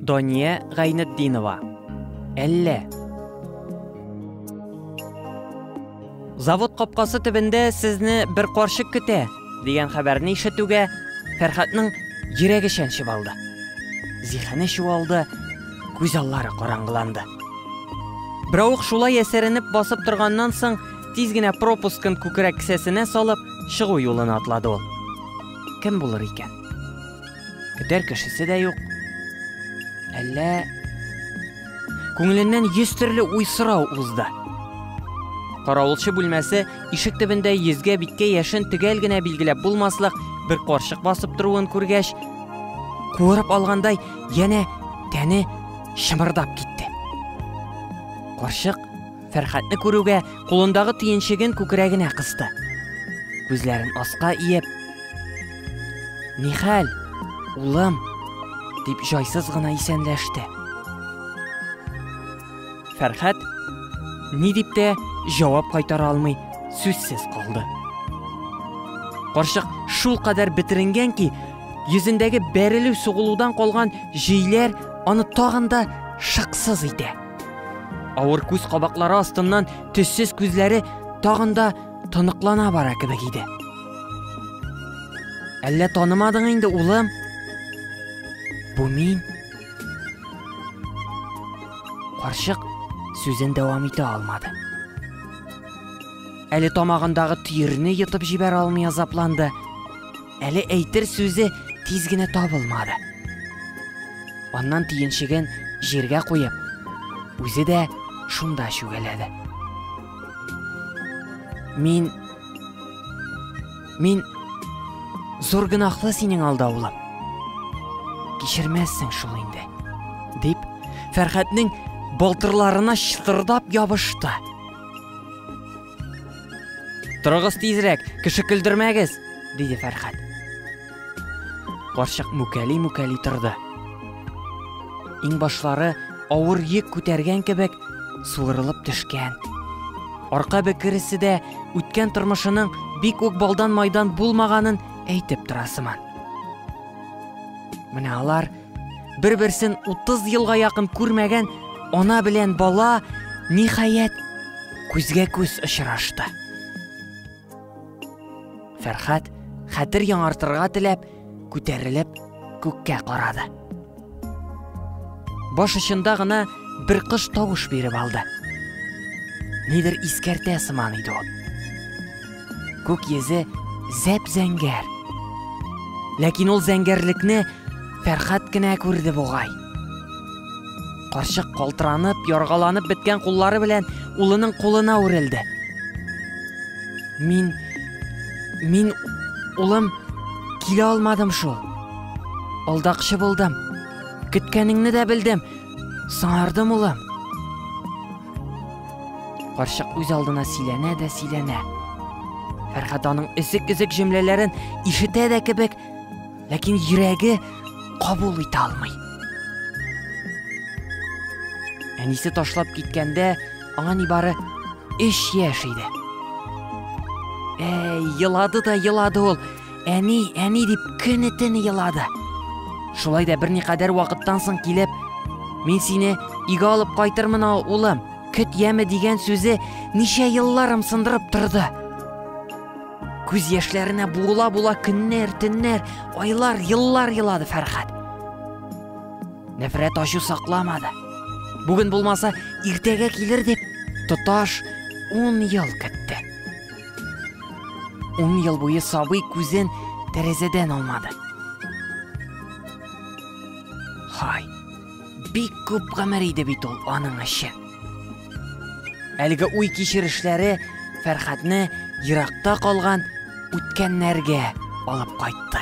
Дания Гайнетдинова. Әллә. Завод капкасы төбендә сезне бер карчык көтә, дигән хәбәрне ишетүгә Фәрхатның йөрәге чәнчеп алды. Зихәне чуалды, күз аллары караңгыланды. Браух шулай әсәренеп басып торганнан соң, тиз генә пропускын күкрәк кесәсенә салып, чыгу юлына атлады ул. Кем булыр икән? Көтәр кешесе дә юк. Әллә күңеленнән йөз төрле уй сорау узды. Каравылчы бүлмәсе ишек төбендә йөзгә биткә яшен төгәл генә билгеләп булмаслык бер карчык басып торуын күргәч, куырып алгандай янә тәне шымырдап китте. Карчык Фәрхәтне күрүгә, кулындагы төенчеген күкрәгенә кысты. Күзләрен аска иеп, Нихәл, улым, дип җайсыз гына исәнләште. Фәрхәт ни дип тә җавап кайтара алмый, сүзсез калды. Карчык шул кадәр бетеренгән ки, йөзендәге бәрелү сугылудан калган җөйләр аны тагын да шыксыз итә. Авыр күз кабаклары астыннан төссез күзләре тагын да тоныклана бара кебек иде. Әллә танымадың инде, улым? Бу мин. Карчык сүзен дәвам итә алмады. Әле тамагындагы төерне йотып җибәрә алмый азапланды. Әле әйтер сүзе тиз генә табылмады. Аннан тиенчеген җиргә куеп, үзе дә шунда чүгәләде. Мин Мин зур гынахлы синең алда улым. Кичермәссең шул инде, дип Фәрхәтнең балтырларына чытырдап ябышты. Торыгыз тизрәк, кеше көлдермәгез, диде Фәрхәт. Карчык мүкәли-мүкәли торды. Иң башлары авыр йөк күтәргән кебек суырылып төшкән. Арка бөкересе дә үткән тормышының бик үк балдан майдан булмаганын әйтеп тора сыман. Менә алар Бер-берсен 30 елга якын күрмәгән ана белән бала ниһаять күзгә күз очрашты. Фәрхат хәтер яңартырга теләп күтәрелеп күккә карады. Баш очында гына бер кыш тавыш биреп алды. Нидер искәртә сыман иде ул. Күк йөзе зәп-зәңгәр. Ләкин ул зәңгәрлекне Фәрхат кенә күрде бугай. Карчык калтыранып, яргаланып беткән куллары белән улының кулына үрелде. Мин мин улым килә алмадым шул. Алдакчы булдым. Көткәнеңне дә белдем. Сыңардым улым. Карчык үз алдына сөйләнә дә сөйләнә. Фәрхат аның өзек-өзек җөмләләрен ишетә дә кебек, ләкин йөрәге кабул итә алмый. Әнисе ташлап киткәндә аңа нибары 3 яшь иде. Әй, елады да елады ул. әни, әни дип көне-төне елады. Шулай да берникадәр вакыттан соң килеп, мин сине өйгә алып кайтырмын, улым, көт яме дигән сүзе ничә елларым сындырып торды. Күз яшьләренә була-була көннәр, төннәр, айлар, еллар елады Фәрхәт. Нәфрәт ачу сакламады. Бүген булмаса, иртәгә килер дип, тоташ 10 ел көтте. Ун ел буе сабый күзен тәрәзәдән алмады. Хай, бик күп гомер иде бит ул аның эше. Әлеге уй кичерешләре Фәрхатны еракта калган үткәннәргә алып кайтты.